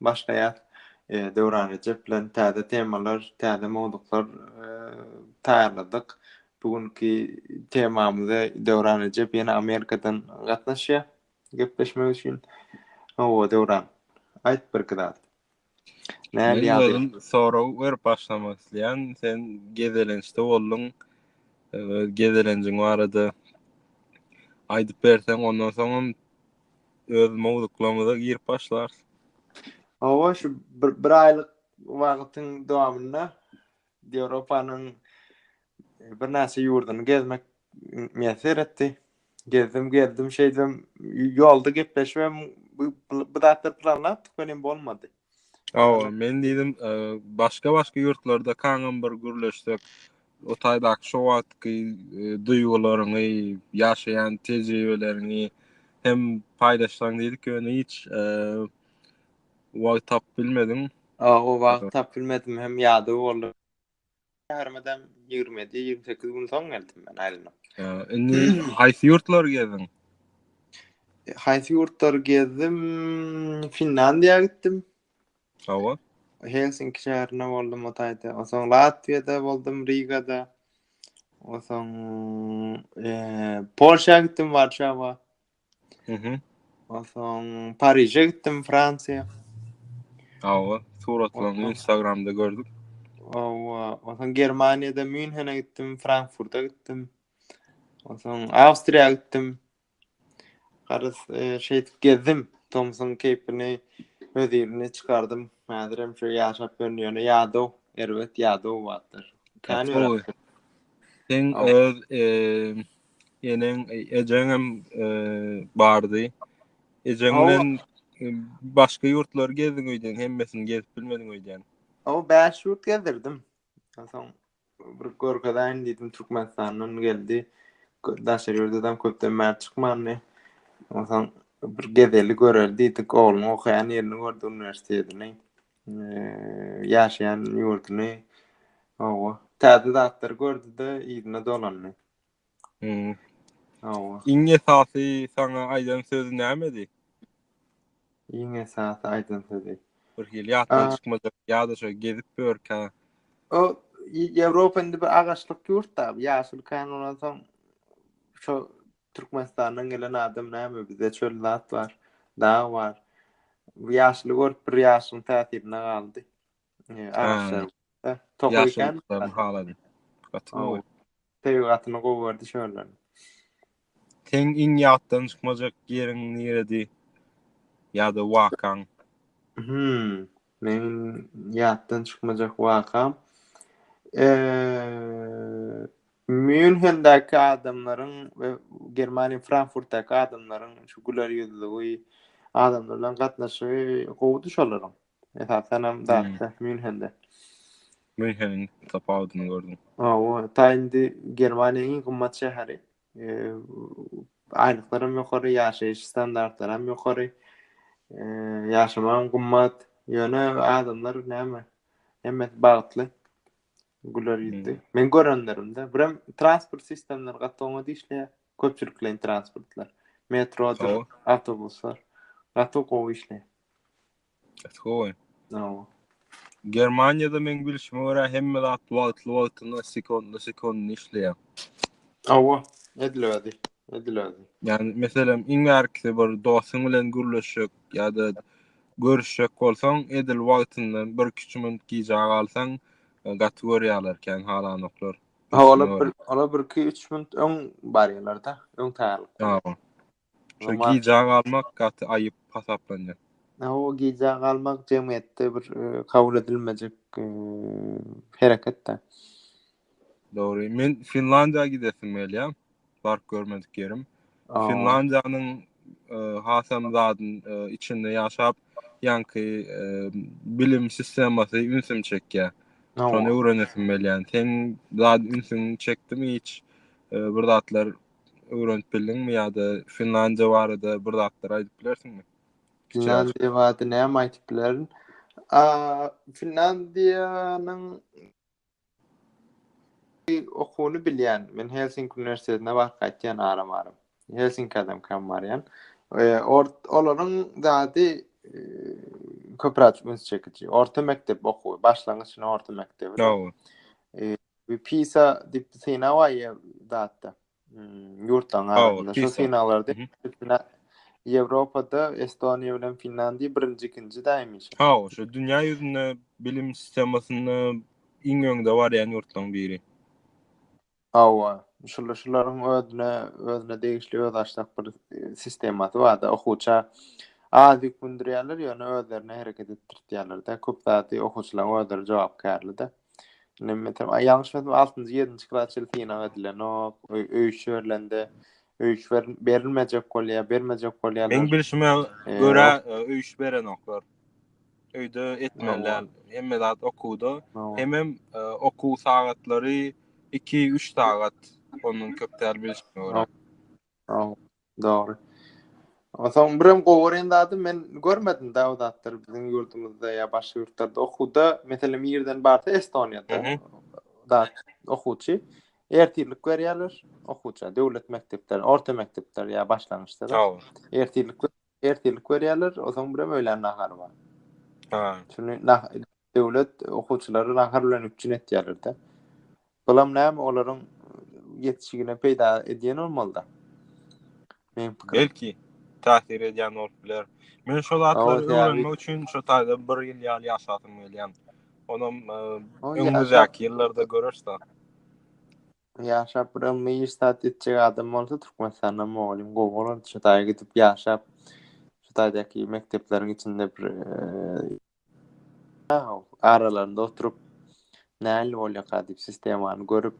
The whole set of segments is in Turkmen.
Başlaýas Döwran Rejep bilen täze temalar, täze mowzuklar taýýarladyk. Bu günki temamyza Döwran Rejep ýene Amerikadan gatnaşýar gepleşmek üçin. Hawa Döwran, aýt birki zat. Nähili ýagdaý? Men welin sorag berip başlamak isleýän. Sen gezelençde bolduň. Öz gezelenjiň barada aýdyp berseň ondan soňam öz mowzuklarymyza girip başlarys. Hawa, şu bir, bir aýlyk wagtyň dowamynda Ýewropanyň birnäçe ýurduny gezmek miýesser seretdi. Gezdim, geldim, şeýdibem ýolda gepleşibem bu, bu zatlar planlapdyk, welin bolmady. Awa, men diýdim, e, başga-başga ýurtlarda kaňam bir gürleşsek, o taýdaky şu wagtky e, duýgularyňy, ýaşaýan tejribeleriňi hem paýlaşsaň diýdik, ýöne hiç e, wagt tapyp bilmedim. O wagt tapyp bilmedim hem ýada boldy. Armadan 27-28 gün soň geldim men aýlyna. Indi haýsy ýurtlary gezdiň? E, haýsy ýurtlary gezdim? Finlandiýa gitdim. Hawa. Helsinki şäherinde boldum o taýda. Onsoň Latwiýada boldum, Rigada. Onsoň e, Polşa gitdim, Warşawa. Mhm. Onsoň Pariže gitdim, Fransiýa. Awa, suratlaryňy Instagramda gördüm. Awa, onsoň Germaniýada Münhene gitdim, Frankfurta gitdim. Onsoň Awstriýa gitdim. Garaz, e, şeýdip gezdim. Tomsuň keýpini, öz ilini çykardym. Häzir hem şu ýaşap ýörün, ýöne ýadaw, erbet ýadaw wagtlar. Kän Sen öz e, eneň, ejeň hem bardy. Ejeň bilen başga ýurtlary gezdiň öýdýän, hemmesini gezip bilmediň öýdýän. Aw, 5 ýurt gezdirdim. Soň bir görkezäýin diýdim, Türkmenistandan geldi. Daşary ýurdam köpden bäri çykmandy. Onsoň bir gezeli göreli diýdik, ogluň okaýan ýerini gördi, uniwersitetini, ýaşaýan ýurduny. Aw, täze zatlary gördi-de, yzyna dolandy. Hawa. Iň esasy saňa aýdan sözi nämedi? Iň esasy aýdan sözi. Bir hili ýatdan çykmajak ýa-da şo gezip ýörkä. O Ýewropa indi bir agaçlyk ýurtda, ýaşyl kän bolan soň şo Türkmenistandan gelen adam näme bizde çöl zat bar, dag bar. Bu ýaşyly görüp bir ýaşyň täsirine galdy. Agaçlaryň. Tokaý kän. Haladym. Gaty gowy. Tebigatyny gowy gördi şöyle. Sen iň ýatdan çykmajak ýeriň niredi? Ýa-da wakaň? Hmm, men ýatdan çykmajak wakam. Eee, Münhendäki adamlaryň we Germaniýa Frankfurtdaky adamlaryň şu güler ýüzlügi, adamlar bilen gatnaşygy gowudy şolaryň. Esasanam zatda Münhende. Münheniň tapawudyny gördüm. Hawa, ta indi Germaniýanyň iň gymmat şäheri. Aýlyklary hem ýokary, ýaşaýyş standartlary hem ýokary. Ýaşamak hem gymmat. Ýöne adamlar näme? Hemmesi bagtly. Güler ýüzli. Men görenlerimde, birem transport sistemleri gaty oňat işleýär. Köpçülikleýin transportlar. Metrodyr, awtobuslar. Gaty gowy işleýär. Skowen. Nawa. Germaniýada men bilşime görä hemme zat wagtly wagtyna sekundly sekundly işleýär. Awa, ediladi, ediladi. Yani meselem iň ärkisi bir dostuň bilen gürleşjek ýa-da görüşjek bolsaň, edil wagtynda bir kiçi minut gijä galsaň, gaty görýärler kän halanoklar. Ola bir, ola bir iki üç minut öň barýarlar-da, öň taýýarlyk. Şo gijä galmak gaty aýyp hasaplanýar. O gijä galmak jemgyýetde bir kabul edilmejek hereket-de. Dogry. Men Finlandiýa gidesim gelýär. Baryp görmedik ýerim. Finlandiýanyň hasam zadyn içinde ýaşap, ýaňky bilim sistemasy ünsümi çekýär. Şony öwrenesim gelýär. Seň zat ünsüňi çekdimi hiç bir zatlar öwrenip bildiňmi ýa-da Finlandiýa barada bir zatlar aýdyp bilersiňmi? Finlandiýa barada näme aýdyp bilerin? Finlandiýanyň okuwyny bilýän. Men Helsinki uniwersitetine baryp gaýtýan aram-aram. Helsinki adam kam barýan. E, or, olaryň zady e, köpräk üns çekiji. Orta mekdep okuwy, başlangyç orta mekdebi. No. E, Bir pisa dip sina var ya datta. Hmm, yurtdan arasında. Şu sinalarda Avrupa'da Estonya bilen Finlandiya birinci ikinci daymış. Ha, şu dünya yüzünde bilim sistemasında iň öňde var ya yurtdan biri. Awa, şular şularyň özüne özüne degişli öz aşak bir e, sistemasy bar da okuwça az ýük mündirýärler, ýöne özlerine hereket etdirýärler-de. Köp zady okuwçylaryň özleri jogapkärli-de. Nemmetem, ay ýalňyş bilmedim, altynjy, ýedinji klas çenli synag edilenok. Ö- Öýüş berlende, öýüş berin- berilmejek bolýar, bermejek bolýarlar. Meň bilşime Ee, görä ok- e, öýüş berenoklar. Öýde etmeliler. Hemme zat okuwda. Hawa. Hemem e, okuw sagatlary 2-3 sagat. Ondan köp däl bilşime görä. Dogry. Onsoň birem gowy görýän zadym men görmedim da o zatlary biziň ýurdumyzda ýa başga ýurtlarda okuwda meselem ýerden barsa Estoniýada da okuwçy ertirlik berýärler okuwça döwlet mekdepleri orta mekdepler ýa başlangyçda da ertirlik ertirlik berýärler onsoň birem öýlän nahary bar. Ha. Şuny Döwlet okuwçylary nahar bilen üpjün etýärler-de. Bulam näme olaryň ýetişigine peýda edýän bolmaly-da. Meň pikirim. Belki, täsir edýän bolup biler. Men şo zatlary öwrenmek üçin şo taýda bir ýyl ýaly ýaşasym gelýän. Onam öňümizdäki ýyllarda göreris zat. Ýaşap bir ylmy iş zat etjek adam bolsa Türkmenistanda mugallym gowy bolardy. Şo taýa gidip ýaşap, şo taýdaky mekdepleriň içinde bir aralarynda oturyp näl bolýaka diýip sistemany görüp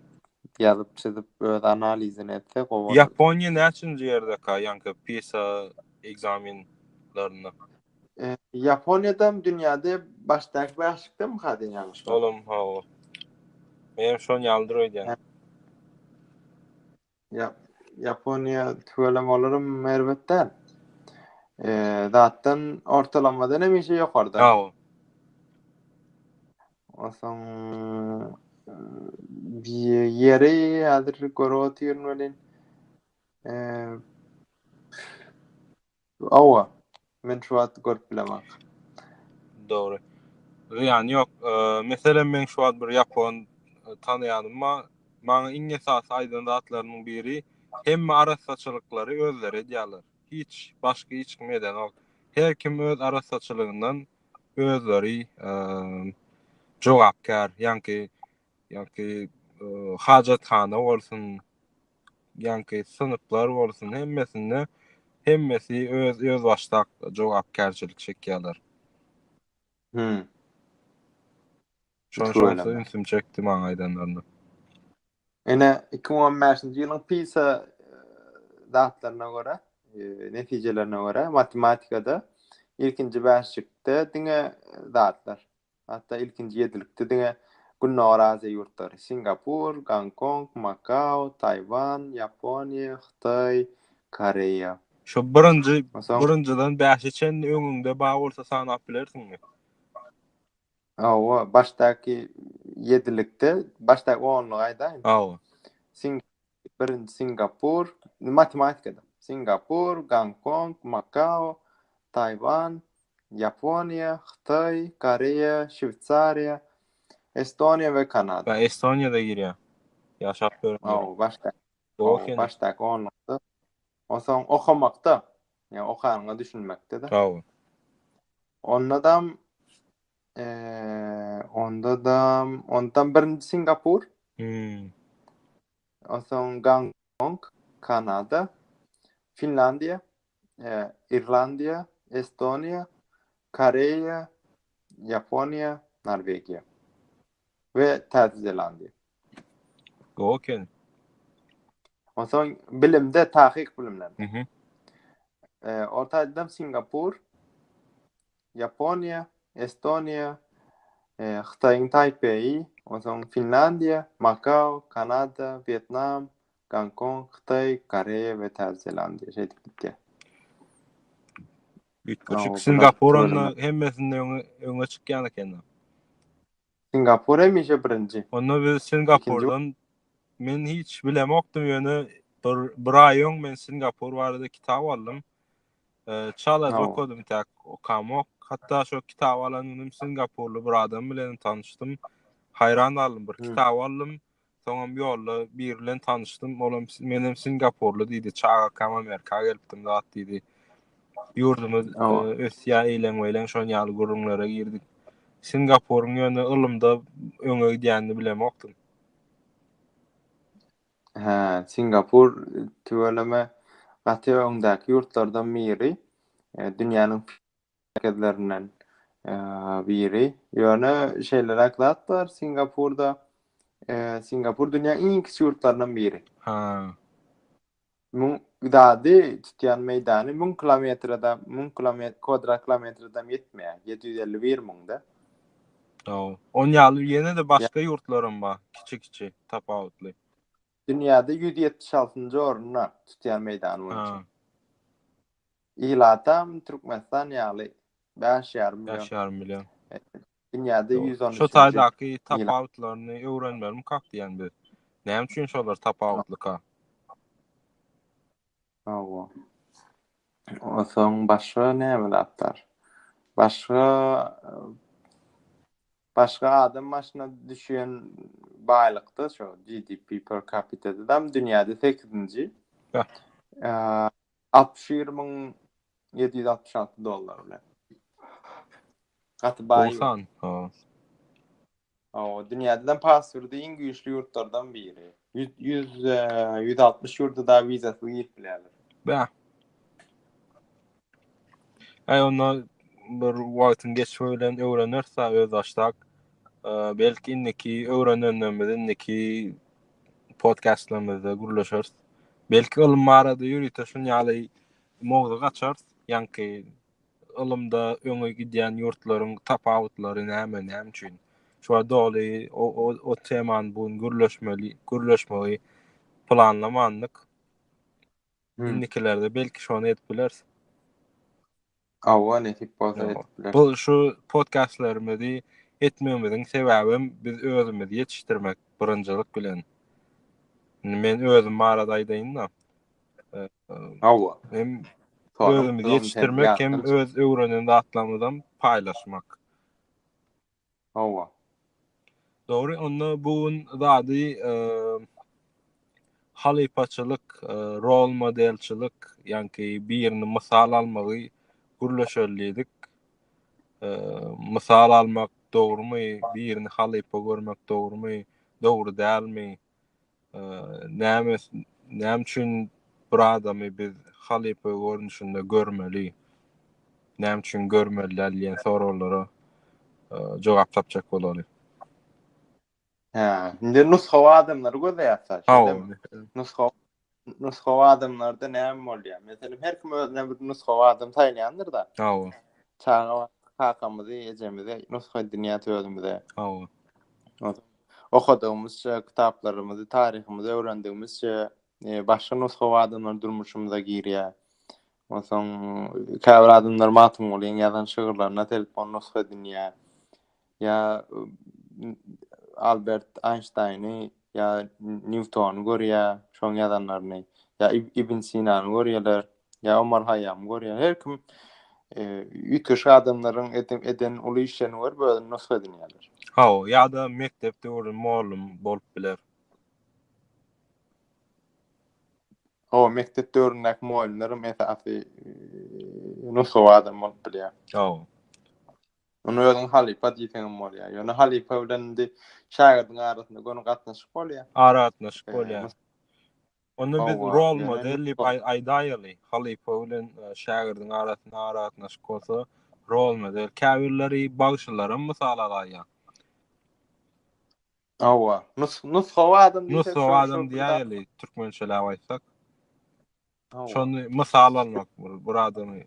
ýazyp çyzyp öz analizini etse gowy ýaponiýa näçinji ýerdeka ýaňky pisa ekzamenlerinde e, ýaponiýadam dünýäde başdaky bäşlikdemi hadi ýalňyş şolam ha men şony ýaldyr öýdýän Ýap, Ýaponiýa tüweleme olaram erbet däl. Eee, zatdan ortalamadan hemişe ýokarda. Hawa. Osaň eee, ýeri häzir görüp otyryn welin. Eee, Hawa, men şu wagty görüp bilemok. Dogry. Zyýany ýok. Meselem, meň şu wagt bir ýapon tanaýanym bar. Maňa iň esasy aýdan zatlarynyň biri, hemme arassaçylyklary özleri edýärler. Hiç, başga hiç kim edenok. Her kim öz arassaçylygyndan özleri jogapkär. Ýaňky Ýanki hajathana bolsun, ýanki synplar bolsun, hemmesinde hemmesi öz özbaşdak jogapkärçilik çekýärler. Hümm. Şoň şonsuz ünsüm çekdi maňa aýdanlaryna. Ine, iki müň on bäşinji ýylyň PISA datlaryna görä, netijelerine görä, matematikada ilkinji bäşlikde diňe zatlar. Hatda ilkinji ýedilikde diňe Gündogar Aziýa ýurtlary, Singapur, Gonkong, Makao, Taýwan, Ýaponiýa, Hytaý, Koreýa. Şu birinji birinjiden bäşe çenli öňüňde bar bolsa sanap bilersiňmi? Hawa, başdaky ýedilikde, başdaky onlugy aýdaýyn. Hawa. Sing birinji Singapur, matematikada. Singapur, Gonkong, Makao, Taýwan, Ýaponiýa, Hytaý, Koreýa, Şweýsariýa, Estoniýa we Kanada. Ýa Estoniýada girýär. Ýaşap gören ýeri. Ow, başda. Ow, başdaky onlukda. Onsoň okamakda. Ýa okanyňa düşünmekde-de. Ow. Ondadam, eee, ondadam, ondam birinji Singapur. Hmm. Onsoň Gonkong, Kanada, Finlandiýa, Irlandiýa, Estoniýa, Koreýa, Ýaponiýa, Norwegiýa we Täze Zelandiýa. Gowy eken. Onsoň bilimde, takyk bilimlerde. Orta Aziýadam Singapur, Ýaponiýa, Estoniýa, Hytaýyň Taýpeýi, onsoň Finlandiýa, Makao, Kanada, Wýetnam, Gonkong, Hytaý, Koreýa we Täze Zelandiýa şeýdip gitýär. Üýtgeşik, Singapur onda hemmesinde öňe çykýan eken-de. Singapur hemişe birinji. Onda biz Singapurdan men hiç bilemokdym ýöne bir bir aý öň men Singapur barada kitap aldym. Çala okadym täk okamok. Hatda şo kitap alan günim Singapurly bir adam bilen tanyşdym. Haýran galdym bir kitap aldym. Soňam ýolda biri bilen tanyşdym. Olam menem singapurly diýdi. Çagakam Amerika gelipdim zat diýdi. Ýurdumyz ösýär, eýleň-beýleň şon ýaly gürrüňlere girdik. Singapuryň ýöne ylymda öňe gidýänini bilemokdym. Hä, Singapur tüweleme gaty öňdäki ýurtlardan biri. Dünýäniň merkezlerinden biri. Ýöne şeýleräk zat bar, Singapurda Singapur dünýäň iň kiçi ýurtlaryndan biri. Ha. Müň dady tutýan meýdany müň kilometrede, müň kilometr kwadrat kilometredem ýetmeýär. Ýedi ýüz elli bir müňde. Hawa. Onuň ýaly ýene-de başga ýurtlaram bar, kiçi-kiçi, tapawutly. Dünýäde ýüz ýetmiş altynjy orunda tutýan meýdany boýunça. Ilatam Türkmenistan ýaly bäş ýarym million. Bäş ýarym million. Dünýäde ýüz on üçünji. Şo taýdaky tapawutlaryny öwrenmelimkak diýen biz. Näme üçin şolar tapawutlyka? Hawa. Onsoň başga näme zatlar? Başga başga adam başyna düşýän baýlykda şo GDP per capita-da dünýäde sekizinji. Bäh. Altmyş bir müň ýedi ýüz altmyş alty dollar bilen. Gaty baý. Gowy san. Hawa, dünýäde passwordy iň güýçli ýurtlardan biri. 100 100 160 ýurda da wizasyz girip bilerler. Bä. Aý onda bir wagtyň geçmegi bilen öwreneris-ä özbaşdak. Belki indiki öwrenenlerimiz indiki podkastlarymyzda gürleşeris. Belki ylym barada ýörite şun ýaly mowzuk açarys. Ýaňky ylymda öňe gidýän ýurtlaryň tapawutlary näme, näme üçin? Şuňa doly o, o, o temany bu gün gürleşmeli, gürleşmegi planlamandyk. Hmm. Indikilerde belki şony edip bileris. Hawa nesip bolsa edip bileris. Bu şu podkastlarymyzy etmegimiziň sebäbem biz özümizi ýetişdirmek birinjilik bilen. Men özüm barada aýdaýyn-da. Hawa. Hem özümizi ýetişdirmek hem öz öwrenen zatlarymyzam paýlaşmak. Hawa. Dogry, onda bu gün zady halypaçylyk, rol modelçilik, ýanki birini mysal almagy gürleşeli diýdik. Mysal almak dogrumy, birini halypa görmek dogrumy, dogry dälmi? Näme näme üçin bir adamy biz halypa görnüşinde görmeli? Näme üçin görmeli däl diýen soraglara jogap tapjak bolarys. Hä, indi nusgawy adamlary gözleýärsiz. Nusgawy nusgawy adamlarda näme bolýar? Meselem, her kim özüne bir nusgawy adam saýlaýandyr-da. Hawa. Çaga kakamyzy, ejemizi nusga edinýär özümize. Hawa. Okadygymyzça, kitaplarymyzy, taryhymyzy öwrendigimizçe, e, başga nusgawy adamlar durmuşymyza girýär. Onsoň, käbir adamlar Magtymgulyň ýazan şygyrlaryna telip, ony nusga edinýär. Ýa Albert Aýnştaýny ýa Nýutony görýär, şoň ýazanlaryny. Ýa Ibn Sinany görýärler, ýa Omar Haýýamy görýär. Her kim üýtgeşik adamlaryň eden uly işlerini görüp özüne nusga edinýärler. Hawa, ýa-da mekdep döwrüni mugallym bolup biler. Hawa, mekdep döwründäki mugallymlaram esasy nusgawy adam bolup bilýär. Hawa. Ony özüň halypa diýseňem bolýar. Ýöne halypa bilen indi şägirdiň arasynda göni gatnaşyk bolýar. Aragatnaşyk bolýar. Onda biz rol model diýip aýdaýaly. Halypa bilen şägirdiň arasynda aragatnaşyk bolsa, rol model. Käbirleri bagşylaram mysal alaýýar. Hawa. Nusgawy adam diýsek, nusgawy adam diýäýeli, türkmençeläp aýtsak. Şony mysal almak bu, bir adamy.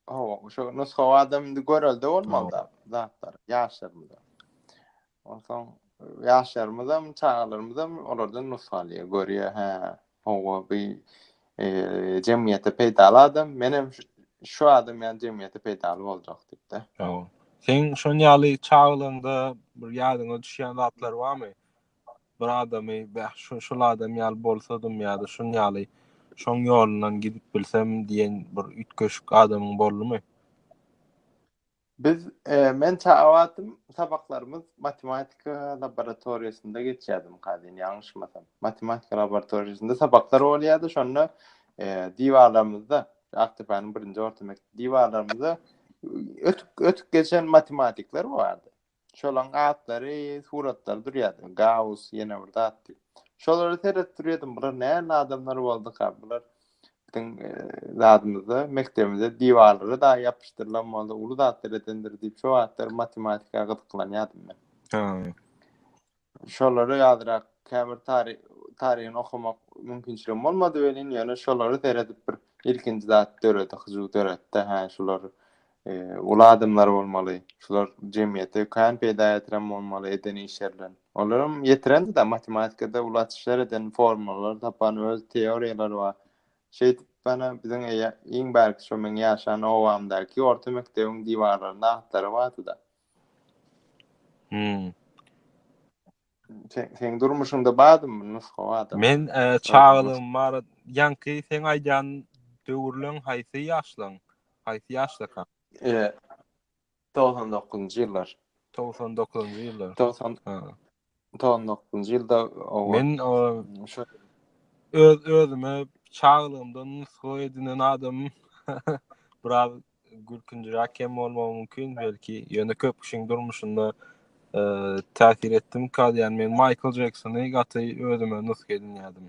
Hawa, şu nusga adam indi görelde olmaly da, zatlar, ýaşlarymyz. Onsoň ýaşlarymyz hem, çagalarymyz hem olardan nusga alýar, görýär, hä, hawa, bu e, jemgyýete peýdaly adam, men hem şu adam ýaly jemgyýete peýdaly boljak diýip-de. Hawa. Sen şon ýaly çaglygyňda bir ýadyňa düşýän zatlar barmy? bir adamy bäh şu şul adam ýaly bolsadym ýa-da şun ýaly şoň ýolundan gidip bilsem diýen bir üýtgeşik adamyň boldumy? Biz men çagatym sabaklarymyz matematika laboratoriýasynda geçýärdim kazin ýalňyşmasam. Matematika laboratoriýasynda sabaklar bolýardy şonda diwarlarymyzda Akdepäniň birinji orta mekdep diwarlarymyzda ötüp ötüp geçen matematikler bardy. Şolaň atlary suratlar durýady. Gaus ýene bir zatdy. Şolara seredip durýadym. Bular nähili adamlar bolduka? Bular biziň zadymyzda, mekdebimizde diwarlara dagy ýapyşdyrylan boldy. Uly zatlar edendir diýip şo wagtlar matematika gyzyklanýadym men. Şolary azrak käbir taryhyny okamak mümkinçiligim bolmady welin, ýöne şolary seredip bir ilkinji zat döredi, hyjuw döretdi, hä, şular uly adamlar bolmaly, şular jemgyýete kän peýda ýetiren bolmaly eden işlerinden. Olaram ýetirendi-de, matematikada uly açyşlar eden, formulalar tapan, öz teoriýalary bar. Şeýdip, ýöne biziň iň bärki şo meň ýaşan obamdaky orta mekdebiň diwarlarynda atlary bardy-da. Hmm. Sen sen durmuşunda badym bu nusga badym. Men e, çagalygym bar. Ýanky sen aýdan döwürleň haýsy ýaşlaň? Haýsy ýaşlaka? E, 99-njy ýyllar. 99-njy ýyllar. 90 99-njy ýylda Men öz özüme çaglygymdan nusga edinen adam biraz gülkünjiräk hem bolmagy mümkin belki ýöne köp kişiň durmuşynda täsir etdim kal ýan men Maýkl Jeksony gaty özüme nusga edinýärdim.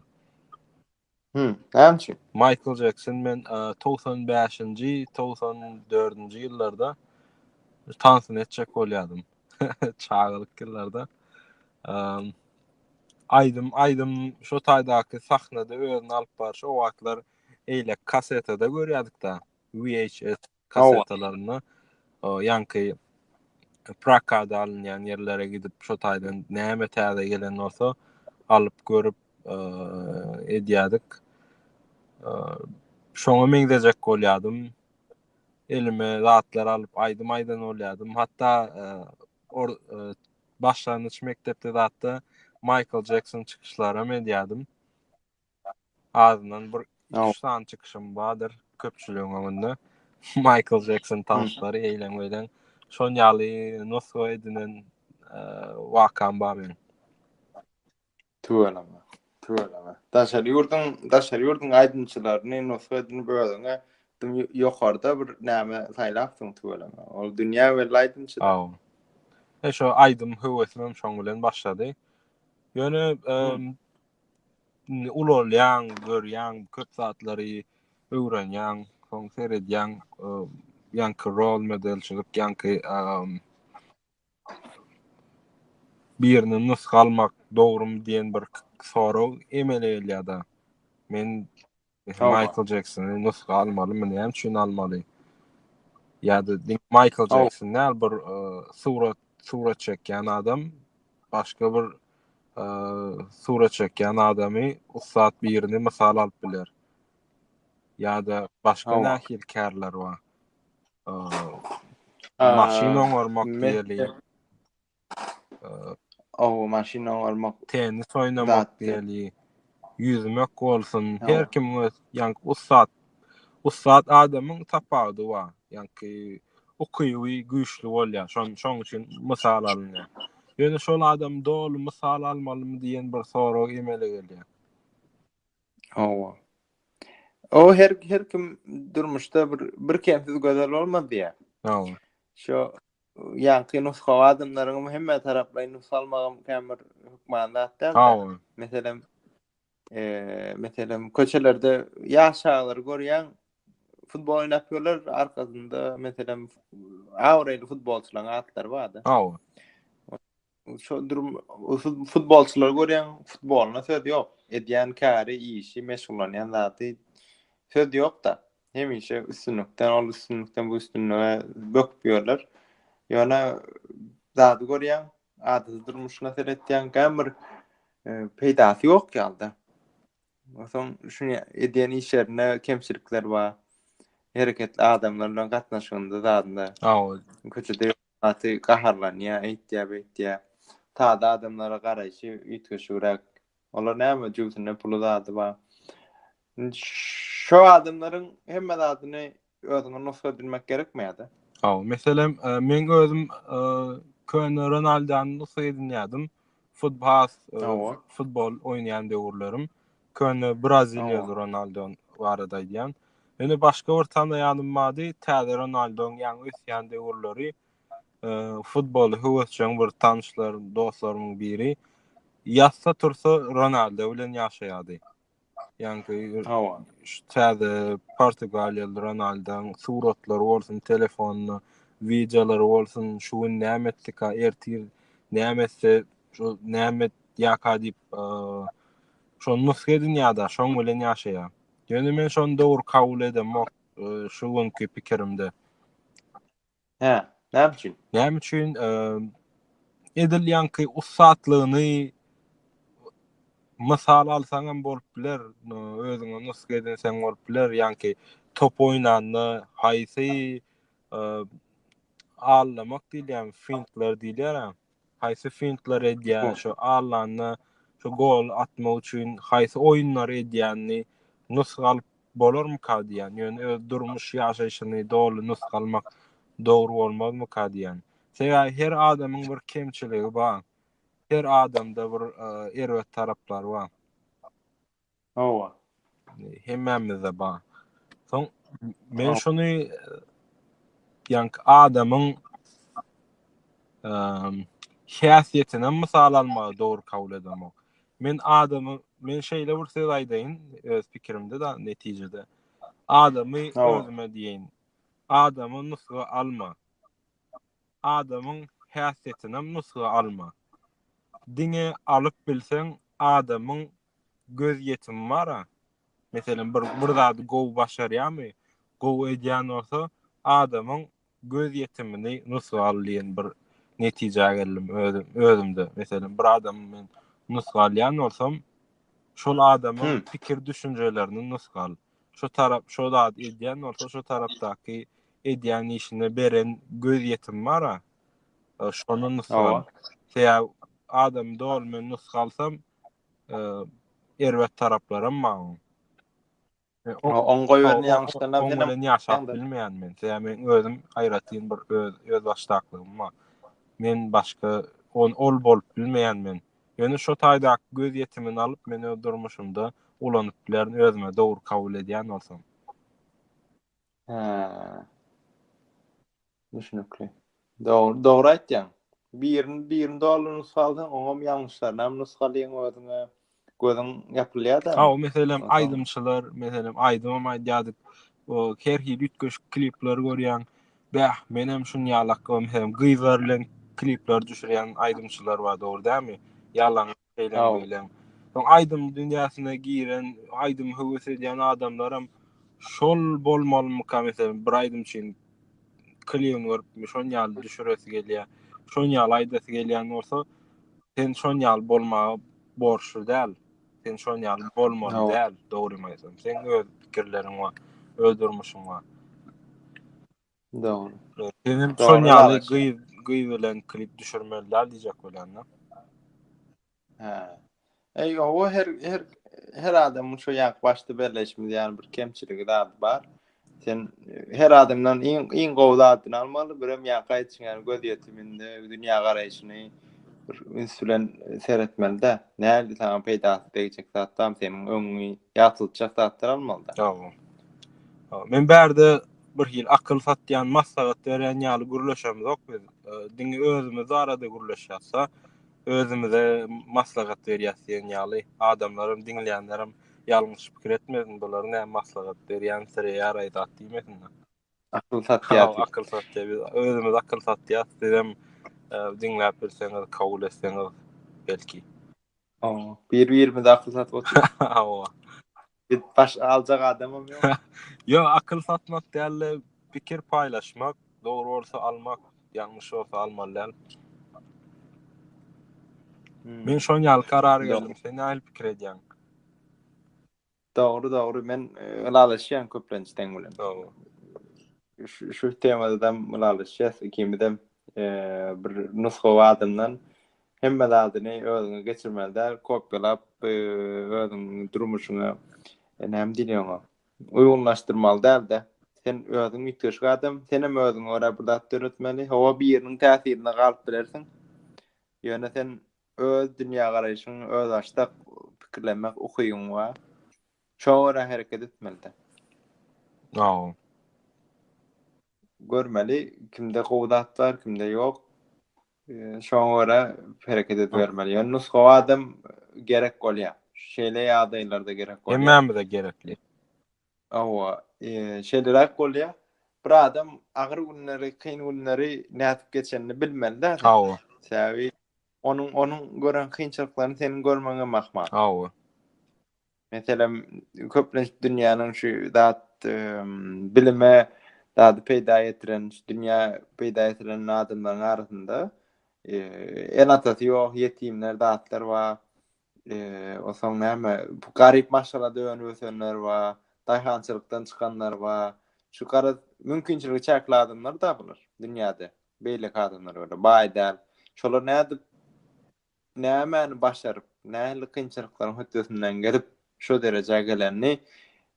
Hmm, näme üçin? Michael Jackson men 95-nji, 94-nji ýyllarda tansyny etjek bolýardym. Çagalyk ýyllarda. Aýdym, aýdym şu taýdaky sahnada özüni alyp barşy o wagtlar eýle kasetada görýärdik-de, VHS kasetalaryna ýaňky prakada alynýan ýerlere gidip şo taýdan näme täze gelen bolsa alyp görüp edýärdik. Şoňa meňzejek bolýardym. Elime zatlar alyp aýdym aýdan bolýardym. Hatda or başlangyç mekdepde zatda Michael Jackson çykyşlary hem edýärdim. Azyndan bir iki sany çykyşym bardyr köpçüligiň öňünde. Michael Jackson tanslary eýlen beýlen. Şon ýaly nusga edinen e, wakam bar benim. Tüweleme. Tüweleme. Daşary ýurduň, daşary ýurduň aýdymçylaryny nusga edinip özüňe dim ýokarda bir näme saýlapsyň tüweleme. Ol dünýä belli aýdymçy. Aw. E şo aýdym höwesim hem şoň bilen başlady. Ýöne Indi ulalýaň, görýäň, köp zatlary öwrenýäň, soň seredýäň, ýaňky rol modelçilik, ýaňky birini nusga almak dogrumy diýen bir sorag emele gelýär-de. Men Mesela Hawa. Michael Jacksony nusga almalymy, näme üçin almaly? Ýa-da diňe Michael Hawa. Jackson däl, bir e, surat surat çekýän adam başga bir e, surat çekýän adamy, ussat birini mysal alyp biler. Ýa-da başga Hawa. nähili kärler bar? E, Aa, Maşyn oňarmak men- diýeli. Ow maşyn oňarmak. Tennis oýnamak deli. Ýüzmek bolsun. Her kim öz ýaňky ussat. Ussat adamyň tapawudy bar. Ýaňky ukyby güýçli bolýar. Şon şoň üçin mysal alynýar. Ýöne şol adam doly mysal almalymy diýen bir sorag emele gelýär. Hawa. O her her kim durmuşda bir bir kemsiz gözel bolmaz diýýär. Hawa. Şo ýaňky nusgawy adamlaryňam hemme taraplaýyn nusga almagam kän bir hökman zat däl. Hawa. Meselem, eee, meselem, köçelerde ýaş çagalary görýäň, futbol oýnap ýörler, arkasynda, meselem, abraýly futbolçylaryň atlary bar-da. Hawa. Şodur futbolçylar görýän futboluna söz ýok. Edýän käri, işi, meşgullanýan zady söz ýok-da. Hemişe üstünlikden, ol üstünlikden bu üstünlige böküp ýörler. Ýöne zady görýän, adaty durmuşyna seretýän gämir e, peýdasy ýok ýalda. Soň şuny edýän işlerinde kemçilikler bar. Hereketli adamlar bilen gatnaşygynda zadynda. Köçede Gaty gaharlanýar, eýtýär, beýtýär. Sada adamlara garaýşy üýtgeşigräk. Olar näme jübüsinde puly zady bar. Indi şo adamlaryň hemme zadyny özüňe nusga edinmek gerekmeýär-de. Hawa, meselem, meň özüm köne Ronaldany nusga edinýärdim. Futbas, futbol oýnaýan döwürlerim. Köne Braziliýa Ronaldo barada aýdýan. Ýöne başga bir tanaýanym bardy, täze Ronaldo ýaňy ösýän döwürleri futboly höwesjeň bir tanyşlarym, dostlarymyň biri ýatsa-tursa Ronaldo bilen ýaşaýardy. Ýaňky Hawa. şu täze portugaliýaly Ronaldoň suratlary bolsun, telefonda wideolary bolsun, şu gün näme etdika, ertir näme etse, şu näme et- ýaka diýip, eee, şony nusga edinýär-de, şoň bilen ýaşaýar. Ýöne men şony dogry kabul edemok, eee, şu günki pikirimde. Hä, näme üçin? Näme üçin? Edil ýanky ussatlygyny mysal alsaň hem bolup biler, özüňe nusga edinseň bolup biler, ýanky top oýnanda haýsy e, allamak diýilýär, fintler diýilýär. haýsy fintlary edýän, şo allanda şo gol atmak üçin haýsy oýunlary edýänini nusga alyp bolarmyka diýýän. Ýöne öz durmuş ýaşaýşyny doly nusga almak dogry bolmazmyka diýýän. Sebäbi her adamyň bir kemçiligi bar. Her adamda bir erbet taraplary bar. Hawa. Hemmämizde bar. Soň men şuny ýa adamyň ehm häsiýetini mysal almagy dogry kabul edemok. Men adamy men şeýle bir söz aýdaýyn öz pikirimde da netijede. Adamy özüme diýen. Adamy nusga alma. Adamyň häsiýetini nusga alma. Diňe alyp bilseň adamyň göz ýetimi bar-a. Meselem, bir bir zady gowy başarýarmy, gowy edýän bolsa, adamyň göz ýetimini nusga al diýen bir netijä geldim özüm özümde. Meselem, bir adamy men nusga alýan bolsam, şol adamyň pikir düşünjelerini nusga al. Şo tarap şo zady edýän bolsa, şo tarapdaky edýän işine beren göz ýetimi bar-a. Şony nusga al. Sebäbi adamy doly men nusga alsam, erbet taraplaram bar. Oňa gören ýaňşydan hem bilen ýaşap bilmeýän men. Sebäbi men özüm aýratyn bir öz öz başdaklygym bar. Men başga on ol bolup bilmeýän men. Ýöne şo taýdaky göz ýetimini alyp men öz durmuşymda ulanyp bilerin özüme dogry kabul edýän bolsam. Hä. Düşnükli. Dogry, dogry aýtýaň. Birini, birini doly nusgalsaň, oňam ýalňyşlarynam nusgalyň özüňe. Gözüň ýapylýar-da. Hawa, meselem, aýdymçylar, meselem, aýdymam aýdýardyk. O, her hili üýtgeşik klipleri görýäň. Bäh, menem şuny ýalak, o, meselem, gyzlar bilen klipler düşürýän aýdymçylar bar, dogry dälmi? Ýalaňaç. Şeýle beýlem. Soň aýdym dünýäsine giren, aýdym höwes edýän adamlaram şol bolmalymyka meselem bir aýdym üçin klibini görüpmi şon ýaly düşüresi gelýä. Şon ýaly aýdasy gelýän bolsa sen şon ýaly bolmaga borçly däl. Sen şon ýaly bolmaly däl, dogrymy aýtsam. Seň öz pikirleriň bar, öz durmuşyň bar. Dogry. Sen hem şol Dogry ýaly ýalgaş. gyz gyz bilen klip düşürmeliler diýjek bolýan da. Hä. Eý, o her her her adamyň şu ýank başda belleşimiz ýaly bir kemçiligi zady bar. Sen e, her adamdan iň iň gowy zadyny almaly, birem ýank aýdyşyň ýaly göz ýetiminde dünýä garaýşyny bir üns bilen e, seretmeli-de. Nähili saňa peýdasy degjek zatlar, seniň öňüňi ýatyltjak zatlar almaly-da. Dogry. Ha, Men bärde bir hili akyl satýan, maslahat berýän ýaly gürleşemzok biz. Diňe özümiz barada gürleşýäs-de, özümize maslahat berýäs diýen ýaly. Adamlaram, diňleýänlerem ýalňyş pikir etmesin, bular näme maslahat berýän, sire ýaraý zat diýmesinler. Akyl satýas. Akyl satýas. Biz özümiz akyl satýas. Sizem diňläp bilseňiz, kabul etseňiz belki. Owa, bir-birimize akyl satyp oturýar. Owa. Bir baş aljak adamym ýok. Ýok, akyl satmak däl-de, pikir paýlaşmak, dogry bolsa almak, ýalňyş bolsa almaly däl. Men şoň ýaly karara geldim. Sen nähili pikir edýäň? Dogry dogry men ylalaşýan köplenç seň bilen. Şu şu temadam ylalaşýas ikimizem bir nusga adamdan hemme zadyny özüňe geçirmeli däl kopýalap özüň durmuşyňa näme diýilýär oňa uýgunlaşdyrmaly däl-de sen özüň üýtgeşik adam senem özüňe görä bir zat döretmeli hawa biriniň täsirinde galyp bilersiň ýöne sen Öz dünýägaraýşyň, özbaşdak pikirlenmek ukybyň bar. Şoňa görä hereket etmelidiň. Aw. Görmeli, kimde gowy zat bar, kimde ýok. Şoňa görä hereket edibermeli. Ýöne nusgawy adam gerek bolýar. Şeýle ýagdaýlarda gerek bolýar. Hemmämize gerekli. Hawa, şeýleräk bolýar. Bir adam agyr günleri, kyn günleri nädip geçenini bilmeli-dä. Hawa. Sebäbi onuň onuň gören kynçylyklaryny seniň görmegiň hem ahmal. Hawa. Meselem, köplenç dünýäniň şu zat bilime zady peýda getiren, şu dünýä peýda getiren adamlaryň arasynda ene-atasy ýok, ýetimler, zatlar bar. Eee, o soň näme? Garyp maşgalada önüp ösenler bar, daýhançylykdan çykanlar bar. Şu garaz, mümkinçiligi çäkli adamlar-da bular dünýäde. Beýleki adamlar ýaly baý däl. Şolar nädip, nämäni başaryp, nähili kynçylyklaryň hötdesinden gelip, şu derejä gelenini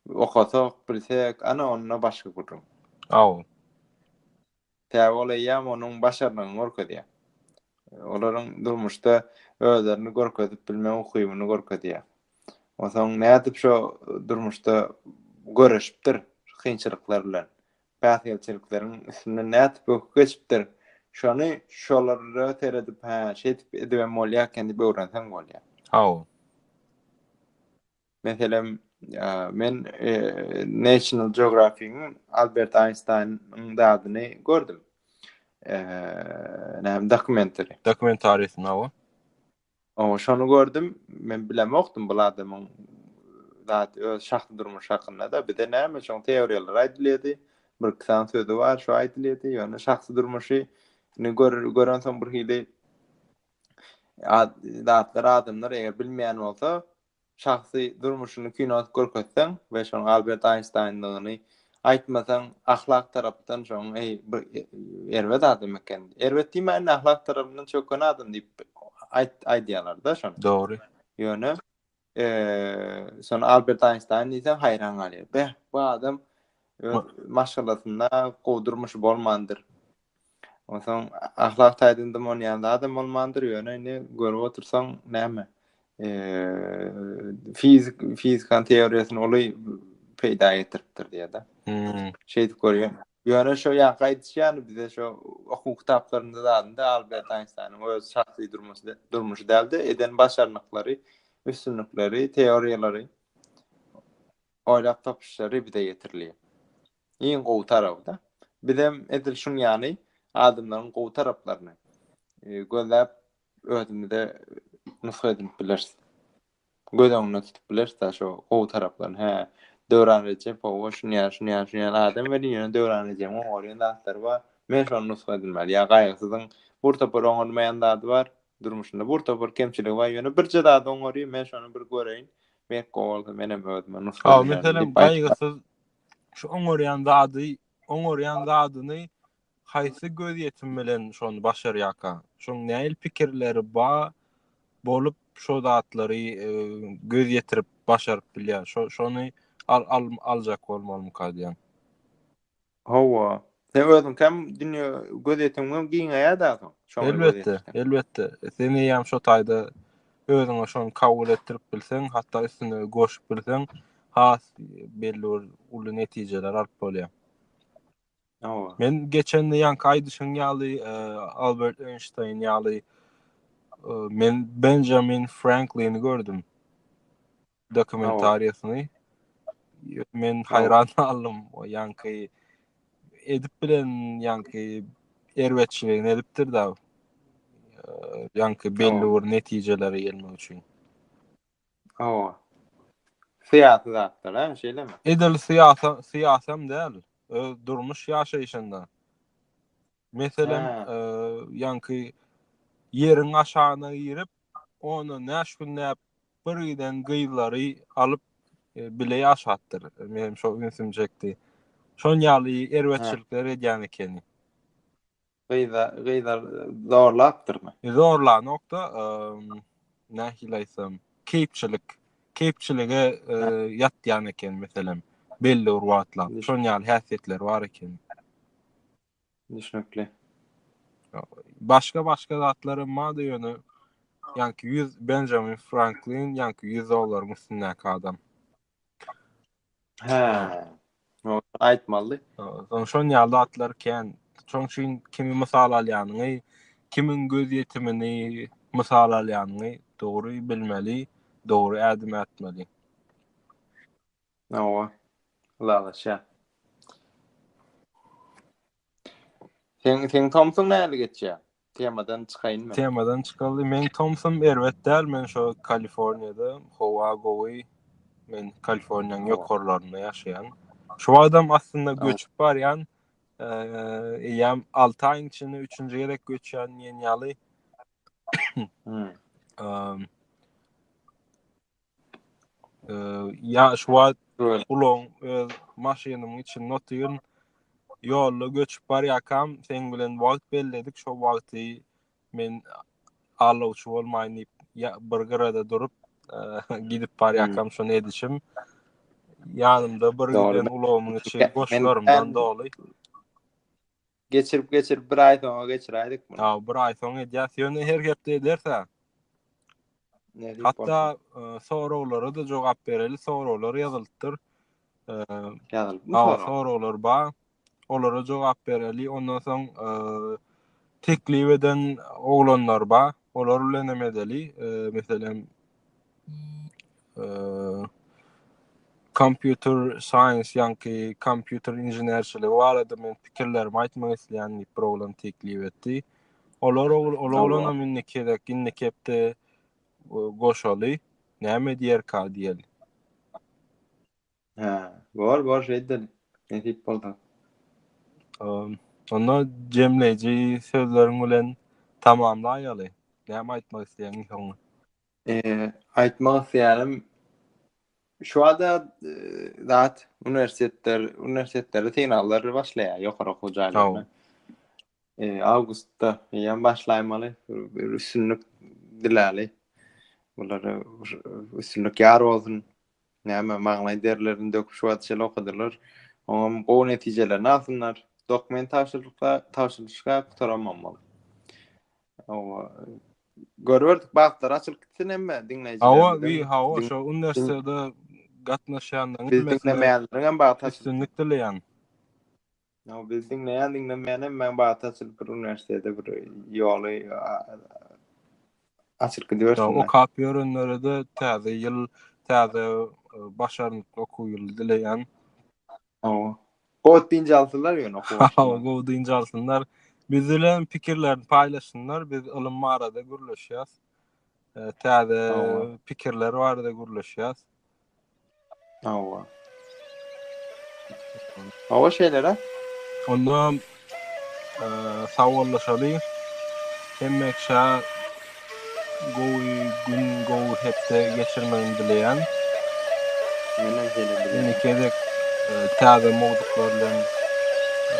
okasak, bilsek, ana onda başga gürrüň. Aw. Tä ol eýýäm onuň başarnygyny görkezýär. Olaryň durmuşda özlerini görkezip bilme ukybyny görkezýär. Onsoň nädip şo durmuşda göreşipdir kynçylyklar bilen, päsgelçilikleriň üstünden nädip böküp geçipdir, şony şolara seredip, hä, şeýdip edibem bolýar eken diýip öwrenseň bolýar. Hawa. Meselem, men National Geographic-iň Albert Einstein-iň zadyny gördüm. Näme dokumentary? Dokumentary snow. O, şonu gördüm. Men bilemokdym bu adamyň zat öz şahsy durmuş hakynda da bize näme şoň teoriýalar aýdylýardy. Bir kitan sözi bar, şo aýdylýardy. Ýöne şahsy durmuşy ne gör görensoň bir hili zatlar adamlar eger bilmeýän bolsa, Şahsy durmuşyny kino edip görkezseň we şonuň Albert Aýnştaýndygyny aýtmasaň, ahlak tarapdan şoň eý bir erbet adam eken. Erbet diýmäýin-de, ahlak tarapyndan çöken adam diýip aýt aýdýarlar-da şony. Dogry. Ýöne şony Albert Aýnştaýn diýseň haýran galýar. Beh, bu adam öz maşgalasynda gowy durmuşy bolmandyr. Onsoň ahlak taýdan dym onýan zadam bolmandyr, ýöne indi görüp otursaň näme? fizik fizikanyň teoriýasyny uly peýda getiripdir diýýärdi. Hmm. Şeýdip görýän. Ýöne şo ýaňky aýdyşýany bize şo okuw kitaplarynda zadynda Albert Einsteiniň öz şahsy durmuşy durmuşy däldi, eden başarnyklary, üstünlikleri, teoriýalary, oýlap tapyşlary bize getirilýär. Iň gowy taraby-da. Bizem edil şuň ýaly adamlaryň gowy taraplaryny gözläp özümize nusga edinip bileris. Göz öňünde tutup bileris-de şo gowy taraplaryny. Hä, Döwran Rejepowa şuny ýaly, şuny ýaly, şuny ýaly adam welin ýöne Döwran Rejebiň oňarýan zatlary bar. Men şony nusga edinmeli. Ýa Gaýgysyzyň bir topar oňarmaýan zady bar, durmuşynda bir topar kemçiligi bar, ýöne birje zady oňarýar, men şony bir göreýin, belki gowy bolsa menem özüme nusga edinýärin diýip aýdyp. Gaýgysyz şu oňarýan zady, oňarýan zadyny haýsy gözýetim bilen şony başarýarka? Şoň nähili pikirleri ba bolup şo zatlary e, göz ýetirip başaryp bilýär? Şo şony al, al aljak bolmalymyka diýen. Hawa. Sen özüň hem dünýä göz ýetimim giňeýär-de soň. Elbetde, elbetde. Sen eýäm şo taýda özüňe şony kabul etdirip bilseň, hatda üstüne goşup bilseň, has belli bir uly netijeler alyp bolýar. Men geçen ýanky aýdyşyň ýaly e, Albert Einstein ýaly e, men Benjamin Franklini gördüm. dokumentariýasyny men haýran galdym. O ýaňky edip bilen ýaňky erbetçiligini edipdir da. Ýaňky belli bir netijelere gelmek üçin. Hawa. Syýasy zatlar, hä, şeýlemi? Edil syýasy, syýasam däl. Öz durmuş ýaşaýşynda. Meselem, ýaňky ýeriň aşagyna girip, ony näşgünläp bir giden gyzlary alyp bile ýaşapdyr. Meniň şo ünsüm çekdi. Şon ýaly erbetçilikler edýän ekeni. Gyza, gyza zorlapdyrmy? Zorlanokda, nähili aýtsam, keýpçilik, keýpçilige ýatýan ekeni meselem, belli bir wagtlap. Şon ýaly häsiýetleri bar ekeni. Düşnükli. Başga başga zatlar hem bardy ýöne ýanki 100 Benjamin Franklin ýanki 100 dollaryň üstündäki adam. Hä. Ýok, aýtmaly. Soň şon ýaly zatlar kän. Şoň üçin kimi mysal alýanyňy, kimiň göz ýetimini mysal alýanyňy dogry bilmeli, dogry ädim ätmeli. Hawa. Ylalaşýan. Sen sen Tomson näli geçýär? Temadan çykaýyn men. Temadan çykaly. Men Tomson erbet däl, men şu Kaliforniýada howa gowy. Men Kaliforniýanyň ýokarlarynda ýaşaýan. Şu wagtam aslynda göçüp barýan. Eýýäm 6 aýyň içinde 3-nji gezek göçýän diýen ýaly. Hmm. ýa şu wagt ulagyň öz maşynyň içinde otyryn ýolda göçüp barýakam seň bilen wagt belledik şo wagty men alawçy bolmaýyn diýip bir gyrada durup gidip barýakam hmm. şony edişim ýanymda bir giden ulagymyň içi boşlarymdan doly Geçirip geçirip bir ay soňa geçiräýdik bunu. Ýa bir ay soň edýäs. Ýöne her hepde ederse. Hatta e, soraglara da jogap bereli. Soraglar ýazylypdyr. E, Ýazylypmy sorag? Soraglar bar. Olara jogap bereli. Ondan soň e, teklip eden oglanlar bar. Olar bilen hem edeli. Meselem Computer Science ýaňky kompýuter inženerçiligi barada men pikirlerimi aýtmak isleýän diýip bir oglan teklip etdi. Olar ol oglana minni kerek, indi kepde goşaly näme diýerka diýeli. Hä, bor, bor, şeýt edeli. Nesip bolsa. Ym, Onda jemleýji sözleriň bilen tamamlaýaly. Näme aýtmak isleýäň iň soňy? Eee, aýtmak isleýänim, şu bada zat uniwersitetler, uniwersitetlerde synaglar başlaýar, ýokary okuw Haw. jaýlaryna. Eee, awgustda eýýäm başlaýmaly. Bir, bir üstünlik diläli. Bulara üstünlik ýar bolsun. Näme, maňlaý derilerini döküp şu wagta çenli okadylar. Oňam gowy netijelerini alsynlar. Dokument tabşyrylykda, tabşyrylyşka gutaramam bolup. Hawa. Görüberdik bagtlary açylyp gitsin hemme diňleýjilerimiziň. Hawa, wi, hawa, şo uniwersitete gatnaşýanlaryň hemmesine üstünlik dileýän. No biz diňleýän diňlemeýän hem men bata açylyp bir uniwersitete bir ýoly açylyp gidibersin. Okap ýörenlere de täze ýyl, täze e, başarnykly okuw ýyly dileýän. Hawa. Gowy dynç alsynlar ýöne okuw. Hawa, gowy dynç alsynlar. Biz bilen pikirlerini paýlaşsynlar. Biz ylym barada gürleşýäs. e, täze pikirler barada gürleşýäs. Hawa. Hawa şeýle-de. Onda e, sawallaşaly. Hemmeşe gowy gün, gowy hepde geçirmegini dileýän. Menen şeýle dileýän. Indi gezek e, täze mowzuklar bilen e,